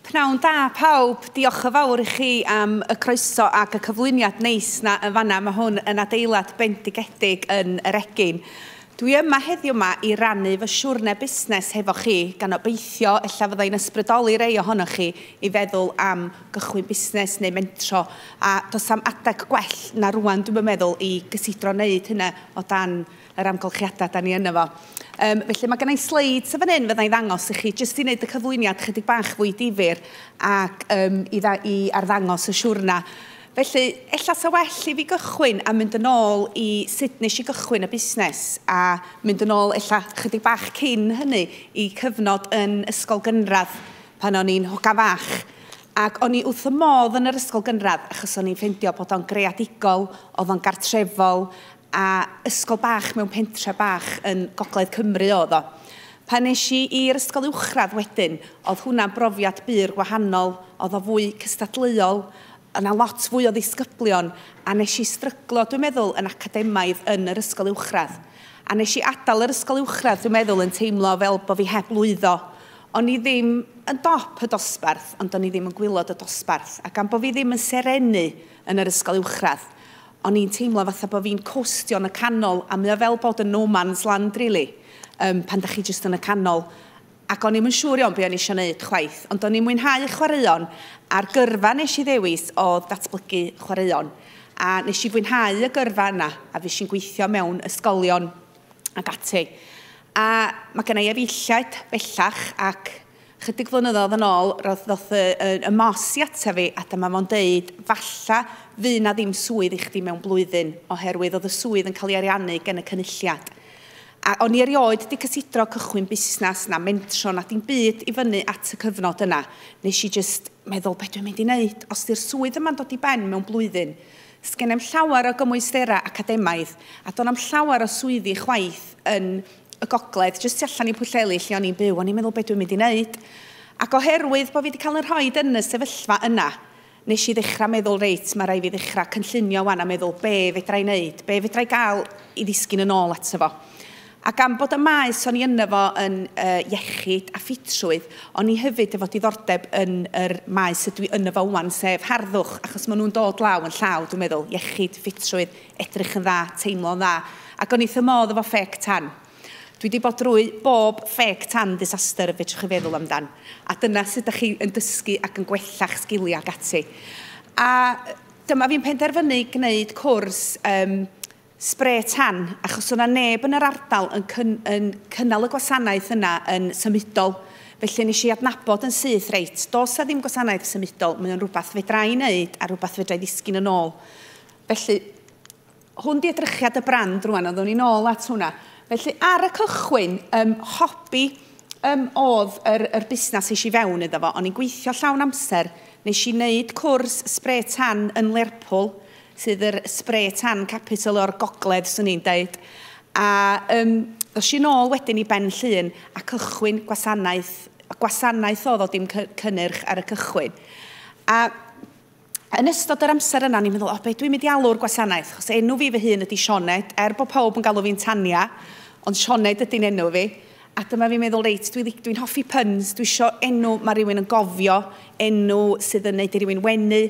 Pnawn da pawb, diolch yn fawr i chi am y croeso ac y cyflwyniad neis na yn fanna. Mae hwn yn adeilad bendigedig yn yr egin. Dwi yma heddiw yma i rannu fy siwrne busnes hefo chi, gan obeithio ella fyddai'n ysbrydoli rei ohonoch chi i feddwl am gychwyn busnes neu mentro a does am adeg gwell na rwan dwi'n yn meddwl i gysidro wneud hynna o dan yr amgylchiadau da ni yno fo. Um, felly mae gennau sleid sy'n fan hyn fyddai'n ddangos i chi jyst i wneud y cyflwyniad chydig bach fwy difyr ac um, i, dda, i arddangos y siwrna. Felly, ella sa well i fi gychwyn a mynd yn ôl i sut nes i gychwyn y busnes a mynd yn ôl ella chydig bach cyn hynny i cyfnod yn ysgol gynradd pan o'n i'n hogan fach, ac o'n i wrth y modd yn yr ysgol gynradd, achos o'n i'n ffeindio bod o'n greadigol, oedd o'n gartrefol, a ysgol bach mewn pentre bach yn gogledd Cymru oedd o. Pan nes i i'r ysgol uwchradd wedyn, oedd hwnna'n brofiad bur gwahanol, oedd o fwy cystadleuol, Oedd 'na lot fwy o ddisgyblion a wnes i stryglo, dwi'n meddwl, yn academaidd yn yr ysgol uwchradd. A wnes i adael yr ysgol uwchradd, dwi'n meddwl, yn teimlo fel bod fi heb lwyddo. O'n i ddim yn dop y dosbarth, ond o'n i ddim yn gwylod y dosbarth. A gan bod fi ddim yn serennu yn yr ysgol uwchradd, o'n i'n teimlo fatha bod fi'n costio yn y canol, a mae o fel bod yn no man's land, rili, um, pan da chi jyst yn y canol. ac o'n i'm yn siŵr iawn be o'n i eisiau wneud chwaith, ond o'n i'n mwynhau chwaraeon a'r gyrfa nes i ddewis oedd datblygu chwaraeon. A nes i fwynhau y gyrfa yna a fes i'n gweithio mewn ysgolion ac ati. A mae gen i efeilliaid bellach ac chydig flynyddoedd yn ôl roedd ddoth y, y, y mos i ata fi a dyma fo'n deud falla fydd na ddim swydd i chdi mewn blwyddyn oherwydd oedd y swydd yn cael ei ariannu gen y cynulliad. A o'n i erioed 'di cysidro cychwyn busnes na mentro na dim byd i fyny at y cyfnod yna. Nes i jyst meddwl be dwi'n mynd i neud os 'di'r swydd yma'n dod i ben mewn blwyddyn? Sgenai'm llawer o gymwysterau academaidd a do'n 'na'm llawer o swyddi chwaith yn y gogledd, jyst tu allan i Pwllheli lle o'n i'n byw. O'n i'n meddwl be dwi'n mynd i neud? Ac oherwydd bo' fi 'di cael 'y rhoid yn y sefyllfa yna, Nes i ddechrau meddwl reit, mae rhaid fi ddechrau cynllunio wan a meddwl be fedra i wneud, be fedra i gael i ddisgyn yn ôl ato fo. A gan bod y maes o'n i yno fo yn uh, iechyd a ffitrwydd, o'n i hefyd efo diddordeb yn yr maes ydw i yno fo wan, sef harddwch, achos maen nhw'n dod law yn llaw, dwi'n meddwl, iechyd, ffitrwydd, edrych yn dda, teimlo'n dda, ac o'n i wrth fy modd efo ffec tan. Dwi wedi bod drwy bob ffêc tan ddisaster y fedrwch chi feddwl amdan. A dyna sut ydych chi yn dysgu ac yn gwella'ch sgiliau ac ati. A dyma fi'n penderfynu gwneud cwrs um, spre tan, achos o'na neb yn yr ardal yn, cyn, yn cynnal y gwasanaeth yna yn symudol. Felly nes i adnabod yn syth, reit, dos a ddim gwasanaeth symudol, mae o'n rhywbeth fedra i wneud a rhywbeth fedra i ddisgyn yn ôl. Felly, Hwn di edrychiad y brand rwan, oeddwn ni'n ôl at hwnna. Felly ar y cychwyn, um, hobi um, oedd yr, yr busnes eisiau fewn iddo fo. O'n i'n gweithio llawn amser, nes i wneud cwrs spray tan yn Lerpwl, sydd yr spray tan capital o'r gogledd, swn i'n dweud. A um, ddos i'n ôl wedyn i Ben Llun a cychwyn gwasanaeth, gwasanaeth oedd o dim cynnyrch ar y cychwyn. A Yn ystod yr amser yna, o'n i'n meddwl, o, be dwi'n mynd i alw'r gwasanaeth? Achos enw fi fy hun ydy Sioned, er bod pawb yn galw fi'n Tania, ond Sioned ydy'n enw fi. A dyma fi'n meddwl, reit, dwi'n dwi, dwi hoffi puns, dwi isio enw mae rhywun yn gofio, enw sydd yn neud i rywun wenu.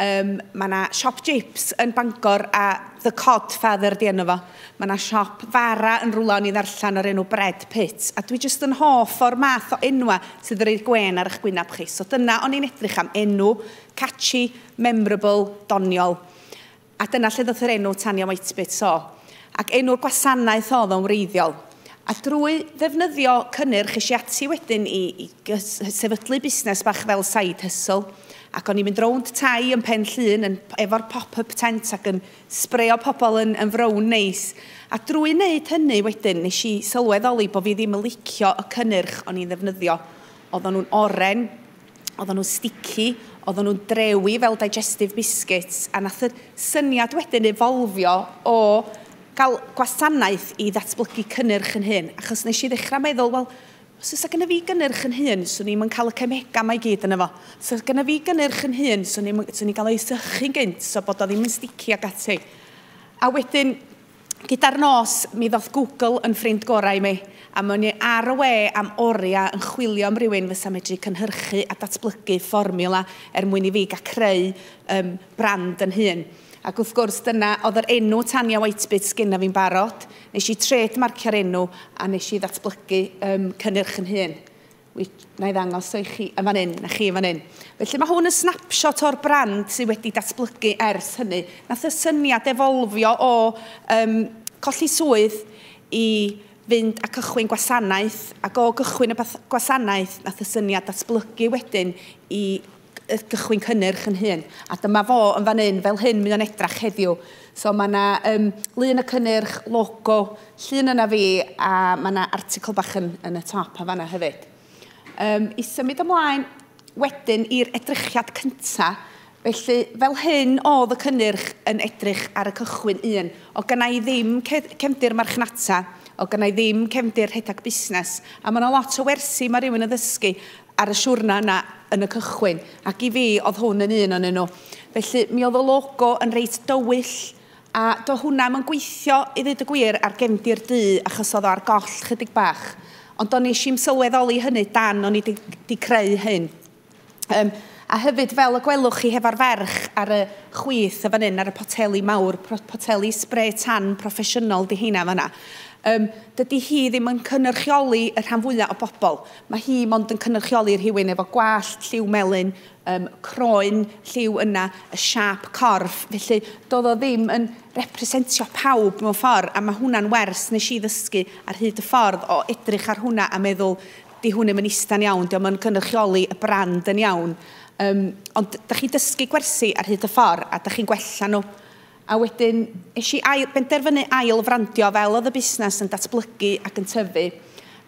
Um, mae yna siop jips yn Bangor a The Cod Father di enw fo. Mae yna siop fara yn rwla o'n i ddarllen o'r enw Bread Pit, a dwi jyst yn hoff o'r math o enwa sydd yn roi'r gwên ar eich gwynab chi. So dyna o'n i'n edrych am, enw, catchy, memorable, doniol. A dyna lle ddoth yr enw Tanya Whitebits o. Ac enw'r gwasanaeth oedd o'n wreiddiol. A drwy ddefnyddio cynnyrch eisiau ati wedyn i, i sefydlu busnes bach fel side hustle. Ac o'n i'n mynd rownd tai yn Pen Llŷn yn, efo'r pop-up tent ac yn sbreio pobl yn yn frown neis, a drwy wneud hynny wedyn nes i sylweddoli bo fi ddim yn licio y cynnyrch o'n i'n ddefnyddio. Oedden nhw'n oren, oedden nhw'n stici, oedden nhw'n drewi fel digestive biscuits, a nath y syniad wedyn efolfio o gael gwasanaeth i ddatblygu cynnyrch yn hyn, achos nes i ddechrau meddwl, wel, Os fysa gynna fi gynnyrch yn hun, swn i'm yn cael y cemegau mae gyd yno fo. Os fysa gynna fi gynnyrch yn hun, swn i'm yn... swn i'n cael o i sychu'n gynt, so bod o ddim yn sticky ac ati. A wedyn, gyda'r nos, mi ddoth Google yn ffrind gorau i mi, a mi o'n i ar y we am oriau yn chwilio am rywun fysa medru cynhyrchu a datblygu fformiwla er mwyn i fi gael creu yym brand yn hun. Ac wrth gwrs, dyna oedd yr enw Tania Whitebit sgynna fi'n barod. Nes i trade marcio'r enw a nes i ddatblygu um, cynnyrch yn hun. Na i ddangos o i chi yn fan hyn, na chi yn fan hyn. Felly mae hwn yn snapshot o'r brand sydd wedi datblygu ers hynny. Nath y syniad efolfio o um, colli swydd i fynd a cychwyn gwasanaeth ac o gychwyn y gwasanaeth nath y syniad datblygu wedyn i gychwyn cynnyrch yn hun. A dyma fo yn fan hyn, fel hyn mae o'n edrach heddiw. So mae yna um, lun y cynnyrch, logo, llun yna fi, a mae yna article bach yn, yn y top a fanna hefyd. Um, I symud ymlaen wedyn i'r edrychiad cyntaf, felly fel hyn oedd y cynnyrch yn edrych ar y cychwyn un. O gynnau i ddim cefndir marchnata, o gynnau ddim cefndir rhedeg busnes, a mae yna lot o wersi mae rhywun yn ddysgu ar y siwrna yna yn y cychwyn, ac i fi oedd hwn yn un o'n nhw. Felly mi oedd y logo yn reit dywyll, a do hwnna yn gweithio i ddweud y gwir ar gefndir du achos oedd o ar goll chydig bach. Ond do nes i'n sylweddoli hynny dan o'n i di, di creu hyn. Um, a hefyd fel y gwelwch chi hefo'r ferch ar y chwith y fan hyn ar y poteli mawr, poteli spray tan proffesiynol di heina fan hynna. Um, dydy hi ddim yn cynnyrchioli y rhan fwyaf o bobl. Mae hi mond yn cynrychioli rhywun efo gwallt, lliw melyn, um, croen, lliw yna, y siap corff. Felly, doedd o ddim yn representio pawb mewn ffordd, a mae hwnna'n wers nes i ddysgu ar hyd y ffordd o edrych ar hwnna a meddwl, di hwn ddim yn ista'n iawn, di o'n cynrychioli y brand yn iawn. Um, ond da chi dysgu gwersi ar hyd y ffordd a da chi'n gwella nhw. A wedyn es i ail, benderfynu ail frandio fel oedd y busnes yn datblygu ac yn tyfu.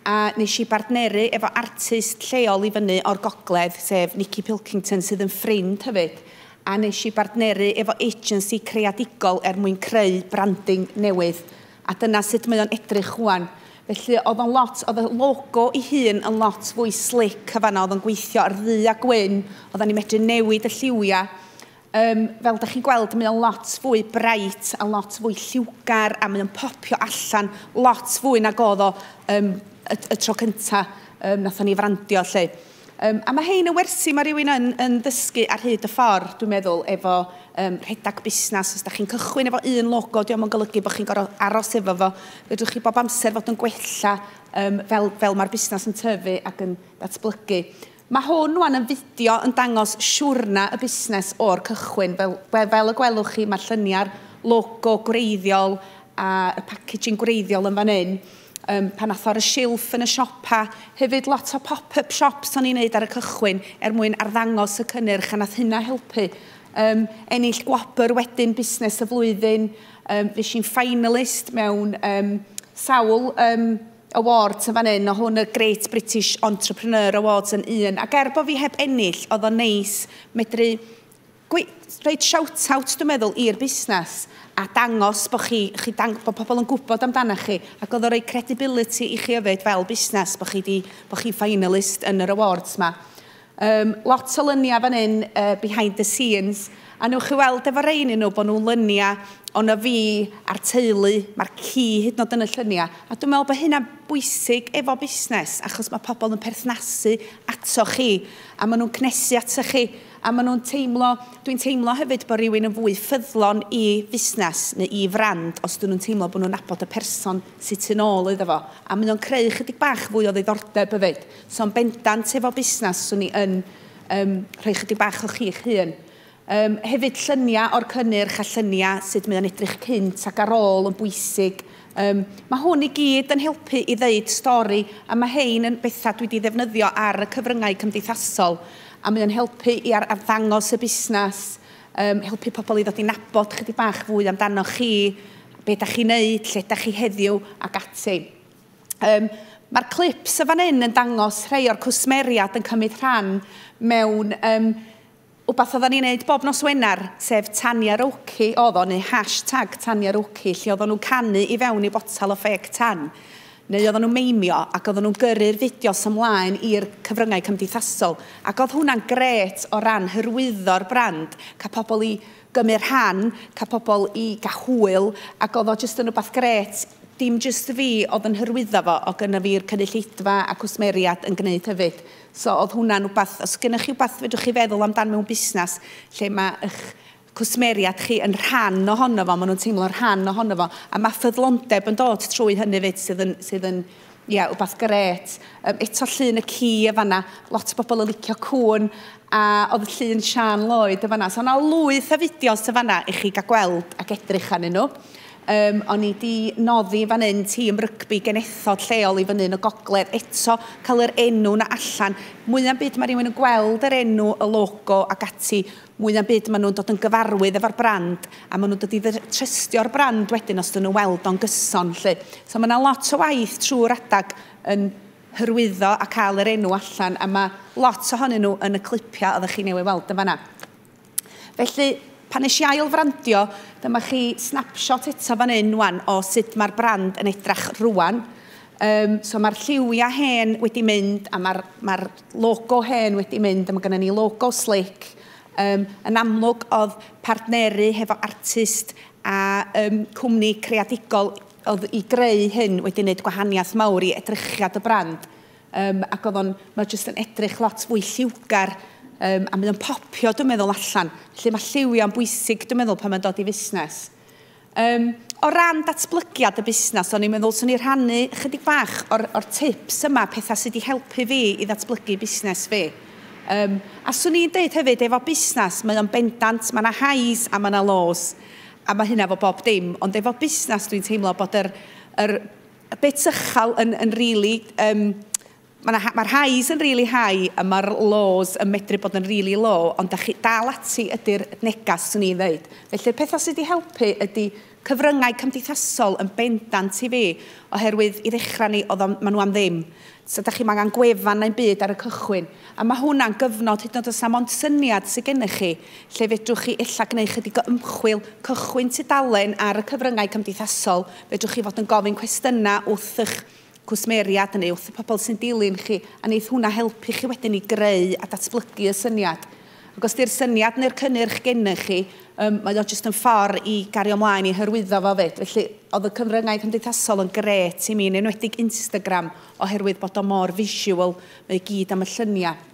A nes i bartneru efo artist lleol i fyny o'r gogledd, sef Nicky Pilkington sydd yn ffrind hefyd. A nes i bartneru efo agency creadigol er mwyn creu branding newydd. A dyna sut mae o'n edrych rwan. Felly oedd o'n lot, oedd y logo i hun yn lot fwy slick y fanna, oedd o'n gweithio ar ddu a gwyn, oedden ni'n medru newid y lliwiau. Um, fel da chi'n gweld, mae o'n lot fwy bright a lot fwy lliwgar a mae o'n popio allan lot fwy na godd o um, y, y tro cynta um, nath ni frandio lle. Um, a mae hein yn wersi, mae rhywun yn, yn ddysgu ar hyd y ffordd, dwi'n meddwl, efo um, rhedeg busnes. Os da chi'n cychwyn efo un logo, diolch yn golygu bod chi'n gorfod aros efo fo. Fedrwch chi bob amser fod yn gwella um, fel, fel mae'r busnes yn tyfu ac yn datblygu. Mae hwn wan yn fideo yn dangos siwrna y busnes o'r cychwyn. Fel, fel y gwelwch chi, mae'r lluniau'r logo gwreiddiol a y packaging gwreiddiol yn fan hyn. Um, pan atho ar y silff yn y siopa, hefyd lot o pop-up shops o'n i'n neud ar y cychwyn er mwyn arddangos y cynnyrch a nath hynna helpu. Um, ennill gwobr wedyn busnes y flwyddyn, um, fes i'n finalist mewn um, sawl um, Awards yn fan hyn, o hwn y Great British Entrepreneur Awards yn un, ac er bod fi heb ennill, oedd o'n neis medru rhaid shout-out, dwi'n meddwl, i'r busnes a dangos bod, chi, chi dang, bod pobl yn gwybod amdano chi ac oedd o'n rhoi credibility i chi yfyd fel busnes bod chi, di, bod chi finalist yn yr awards yma. Yym, lot o lynia fan hyn, yy, behind the scenes, a newch chi weld efo rei ohonyn nhw bod nhw'n lynia ono fi a'r teulu, mae'r ci hyd yn oed yn y llynia, a dwi'n meddwl bod hynna'n bwysig efo busnes, achos mae pobl yn perthnasu ato chi, a maen nhw'n cnesu ato chi, a maen nhw'n teimlo, dwi'n teimlo hefyd bod rhywun yn fwy ffyddlon i fusnes neu i frand os dyn nhw'n teimlo bod nhw'n nabod y person sydd tu nôl iddo fo, a mae o'n creu chydig bach fwy o ddiddordeb hefyd. So yn bendant efo busnes, swn i yn yym rhoi chydig bach o chi'ch hun. Yym hefyd lluniau o'r cynnyrch a lluniau sut mae o'n edrych cynt ac ar ôl yn bwysig. Yym mae hwn i gyd yn helpu i ddeud stori a mae hein yn bethau dwi wedi ddefnyddio ar y cyfryngau cymdeithasol a mae o'n helpu i ar arddangos y busnes, yym helpu pobl i ddod i nabod chydig bach fwy amdanoch chi, be da chi'n neud, lle da chi heddiw ac ati. Um, Mae'r clips y fan hyn yn dangos rhai o'r cwsmeriad yn cymryd rhan mewn um, wbeth oedden ni'n neud bob nos Wener, sef Tania Roki oedd o, neu hashtag Tania Roki, lle oedden nhw'n canu i fewn i botal o ffeg tan, neu oedden nhw'n meimio ac oedden nhw'n gyrru'r fideos ymlaen i'r cyfryngau cymdeithasol. Ac oedd hwnna'n gret o ran hyrwyddo'r brand, cael pobl i gymryd rhan, cael pobl i gael hwyl, ac oedd o jyst yn rhywbeth grêt, dim jyst y fi oedd yn hyrwyddo fo, oedd gynna fi'r cynulleidfa a cwsmeriaid yn gwneud hefyd. So oedd hwnna'n rhywbeth, os gennych chi rhywbeth fedrwch chi feddwl amdan mewn busnes lle mae eich cwsmeriaid chi yn rhan ohono fo, maen nhw'n teimlo'n rhan ohono fo, a mae ffyddlondeb yn dod trwy hynny fyd sydd yn, sydd yn Ie, yeah, wbath gret. Um, eto llun y ci y fanna, lot o bobl yn licio cwn, a oedd llun Sian Lloyd y fanna. So yna lwyth o fideos y fanna i chi gael gweld ac edrych anyn nhw. Um, o'n i di noddi fan hyn tîm rygbi genethod lleol i fyny yn y gogledd. Eto, cael yr enw na allan. Mwya'm byd mae rhywun yn gweld yr enw, y logo ac ati. mwy na'm byd maen nhw'n dod yn gyfarwydd efo'r brand a maen nhw'n dod i trystio'r brand wedyn os dyn nhw'n weld o'n gyson 'lly. So mae yna lot o waith trwy'r adag yn hyrwyddo a cael yr enw allan a mae lot ohonyn nhw yn y clipiau oeddech chi newydd weld yn fanna. Felly pan nes i ail frandio, dyma chi snapshot eto fan hyn wan o sut mae'r brand yn edrach rwan. Um, so mae'r lliwiau hen wedi mynd a mae'r mae logo hen wedi mynd, a mae gennym ni logo slick. Um, yn amlwg, oedd partneru hefo artist a um, cwmni creadigol oedd i greu hyn wedi gwneud gwahaniaeth mawr i edrychiad y brand. Um, ac oedd o'n, mae jyst yn edrych lot fwy lliwgar um, a mae o'n popio, dwi'n meddwl, allan. Felly mae lliwiau'n bwysig, dwi'n meddwl, pan mae'n dod i fusnes. Um, o ran datblygiad y busnes, o'n i'n meddwl swn i rhannu chydig bach o'r, or tips yma, pethau sydd wedi helpu fi i ddatblygu busnes fi. Um, a swn i'n dweud hefyd, efo busnes, mae o'n bendant, mae yna highs a mae yna lows, a mae hynna fo bob dim. Ond efo busnes, dwi'n teimlo bod yr, yr bit ychal yn, yn really um, Mae 'na mae'r highs yn really high a mae'r lows yn medru bod yn really low, ond da chi dal ati ydy'r negas, swn i'n ddeud. Felly'r pethau sydd wedi helpu ydy cyfryngau cymdeithasol yn bendant i fi, oherwydd i ddechrau ni, oedd o'n, maen nhw am ddim. So da chi'm angen gwefan neu'n byd ar y cychwyn. A mae hwnna'n gyfnod, hyd yn oed os na mond syniad sydd gennych chi, lle fedrwch chi ella gwneud chydig o ymchwil, cychwyn tudalen ar y cyfryngau cymdeithasol, fedrwch chi fod yn gofyn cwestiynau wrth eich cwsmeriaid yn uwch, y pobl sy'n dilyn chi, a wneith hwnna helpu chi wedyn i greu a datblygu y syniad. Ac os di'r syniad neu'r cynnyrch gennych chi, um, mae o jyst yn ffordd i gario mlaen i hyrwyddo fo fyd. Felly, oedd y cyfryngau cymdeithasol yn gret i mi, yn enwedig Instagram, oherwydd bod o mor visual, mae gyd am y lluniau.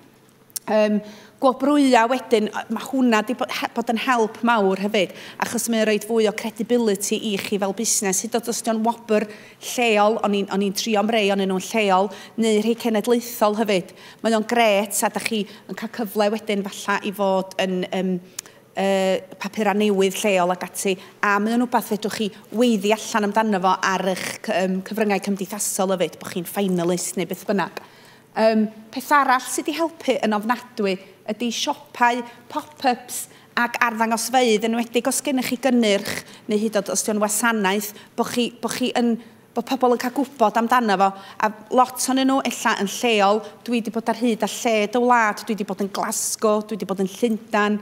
Um, gwobrwya wedyn, mae hwnna wedi bod yn help mawr hefyd, achos mae'n rhoi fwy o credibility i chi fel busnes, hyd oed os ydy'n wobr lleol, o'n i'n trio am rei o'n nhw'n lleol, neu rhai cenedlaethol hefyd. Mae o'n gret, a da chi yn cael cyfle wedyn falla i fod yn um, uh, papurau newydd lleol ac ati, a mae o'n rhywbeth fedrwch chi weiddi allan amdano fo ar eich um, cyfryngau cymdeithasol hefyd, bod chi'n finalist neu beth bynnag. Yym, peth arall sy 'di helpu yn ofnadwy ydi siopau pop-ups ac arddangosfeydd, enwedig os gennych chi gynnyrch neu hyd o'd os 'di o'n wasanaeth, bo' chi bo' chi yn bo' pobl yn cael gwybod amdano fo, a lot o'nyn nhw ella yn lleol, dwi 'di bod ar hyd a lled y wlad, dwi 'di bod yn Glasgow, dwi 'di bod yn Llundan,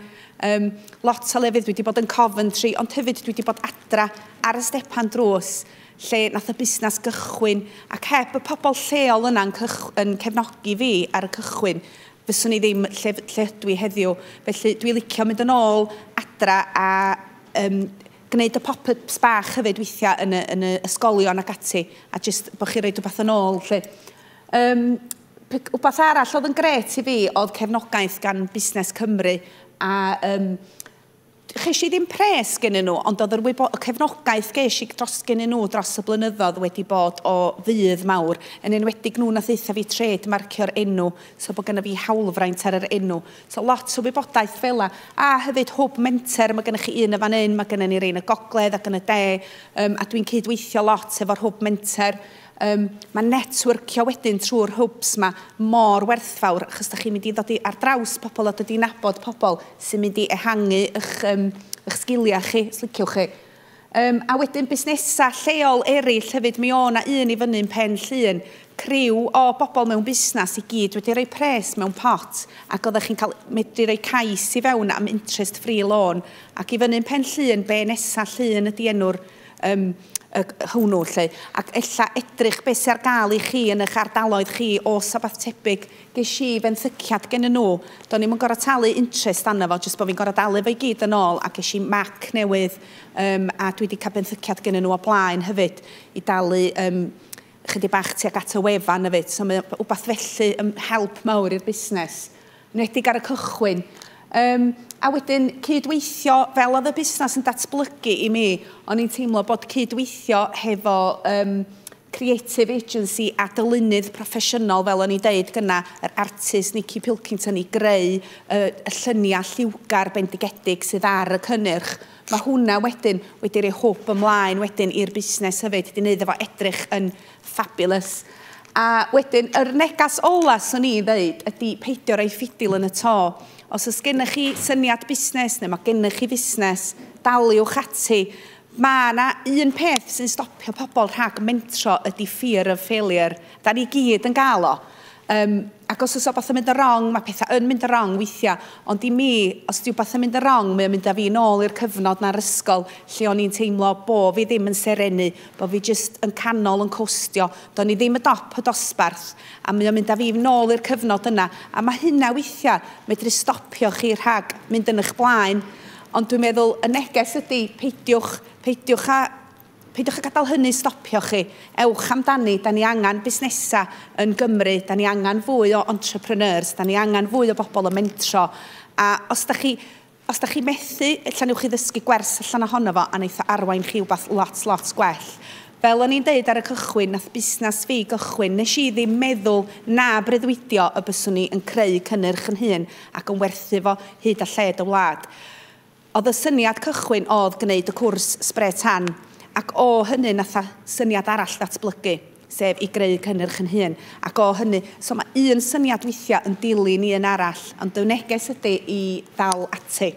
um, lot o lefydd, dwi 'di bod yn Coventry, ond hefyd dwi 'di bod adra ar y stepan drws, lle nath y busnas gychwyn ac heb y pobl lleol yna yn, yn cefnogi fi ar y cychwyn fyswn i ddim lle, lle ydw i heddiw. Felly dwi'n licio mynd yn ôl adra a um, gwneud y pop-ups bach hefyd weithiau yn y, yn y ysgolion ac ati a jyst bod chi roi rhywbeth yn ôl lle. Um, Wbeth arall oedd yn gret i fi oedd cefnogaeth gan Busnes Cymru a um, Ges i ddim pres gennyn nhw, ond oedd yr wybo-, y cefnogaeth ges i dros gennyn nhw dros y blynyddoedd wedi bod o fudd mawr, yn enwedig nhw nath ddeutha fi trêd marcio'r enw, so bod gynna fi hawlfraint ar yr enw. So lot o wybodaeth fela. A hefyd hwb menter, mae gennych chi un yn fan hyn, mae gennym ni rei yn y gogledd ac yn y de, um, a dwi'n cyd-weithio lot efo'r hwb menter. Um, mae networkio wedyn trwy'r hwbs yma mor werthfawr achos da chi'n mynd i ddod i ar draws pobl a dod i'n nabod pobl sy'n mynd i ehangu eich, um, eich sgiliau chi, os liciwch chi. Um, a wedyn busnesau lleol eraill hefyd, mi o na un i fyny'n pen llun, criw o bobl mewn busnes i gyd wedi rhoi pres mewn pot ac oeddech chi'n cael medru rhoi cais i fewn am interest free loan ac i fyny'n pen llun be nesaf llun ydy enw'r um, y, hwnnw, lle, ac ella edrych beth sy'n ar gael i chi yn eich ardaloedd chi o sabath tebyg. Ges i fenthyciad gen nhw, do'n i'm yn gorau talu interest anna fo, jyst bod fi'n gorau dalu fo i gyd yn ôl, a ges i mac newydd, um, a dwi wedi cael benthyciad gen nhw o blaen hefyd, i dalu um, chydig bach tuag at y wefan hefyd. So mae wbath felly yn help mawr i'r busnes, yn enwedig ar y cychwyn. Um, a wedyn cydweithio, fel oedd y busnes yn datblygu i mi, o'n i'n teimlo bod cydweithio hefo um, creative agency a dylunydd proffesiynol, fel o'n i'n deud gyna, yr artist Nicky Pilkington i greu uh, y lluniau lliwgar bendigedig sydd ar y cynnyrch Mae hwnna wedyn wedi rhoi hwb ymlaen wedyn i'r busnes hefyd, wedi wneud efo edrych yn fabulous. A wedyn, yr negas ola swn i'n ddeud ydy peidio rhoi ffidil yn y to. Os oes gennych chi syniad busnes neu mae gennych chi fusnes, daliwch ati. Mae yna un peth sy'n stopio pobl rhag mentro ydy fear of failure. Da ni gyd yn gael o. Um, ac os oes o beth yn mynd yn wrong, mae pethau yn mynd yn wrong weithiau, ond i mi, os yw beth yn mynd yn wrong, mae'n mynd â fi nôl i'r cyfnod na'r ysgol lle o'n i'n teimlo bo fi ddim yn serenu, bo fi jyst yn canol yn costio, do'n i ddim y dop y dosbarth, a mae'n mynd â fi nôl i'r cyfnod yna, a mae hynna weithiau medru stopio chi rhag mynd yn eich blaen, ond dwi'n meddwl y neges ydy peidiwch, peidiwch a Peidiwch â gadael hynny stopio chi. Ewch amdani, 'da ni angen busnesau yn Gymru, 'da ni angen fwy o entrepreneurs, 'da ni angen fwy o bobl yn mentro, a os da chi, os da chi methu, ella newch chi ddysgu gwers allan ohono fo a wneith o arwain chi wbath lot, lot gwell. Fel o'n i'n deud ar y cychwyn, nath busnes fi gychwyn, nes i ddim meddwl na breuddwydio y byswn i yn creu cynnyrch yn hun ac yn werthu fo hyd a lled y wlad. Oedd y syniad cychwyn oedd gwneud y cwrs Spray Tan ac o hynny nath y syniad arall ddatblygu, sef i greu cynnyrch yn hun ac o hynny, so mae un syniad weithiau yn dilyn un arall ond y neges ydy i ddal ati.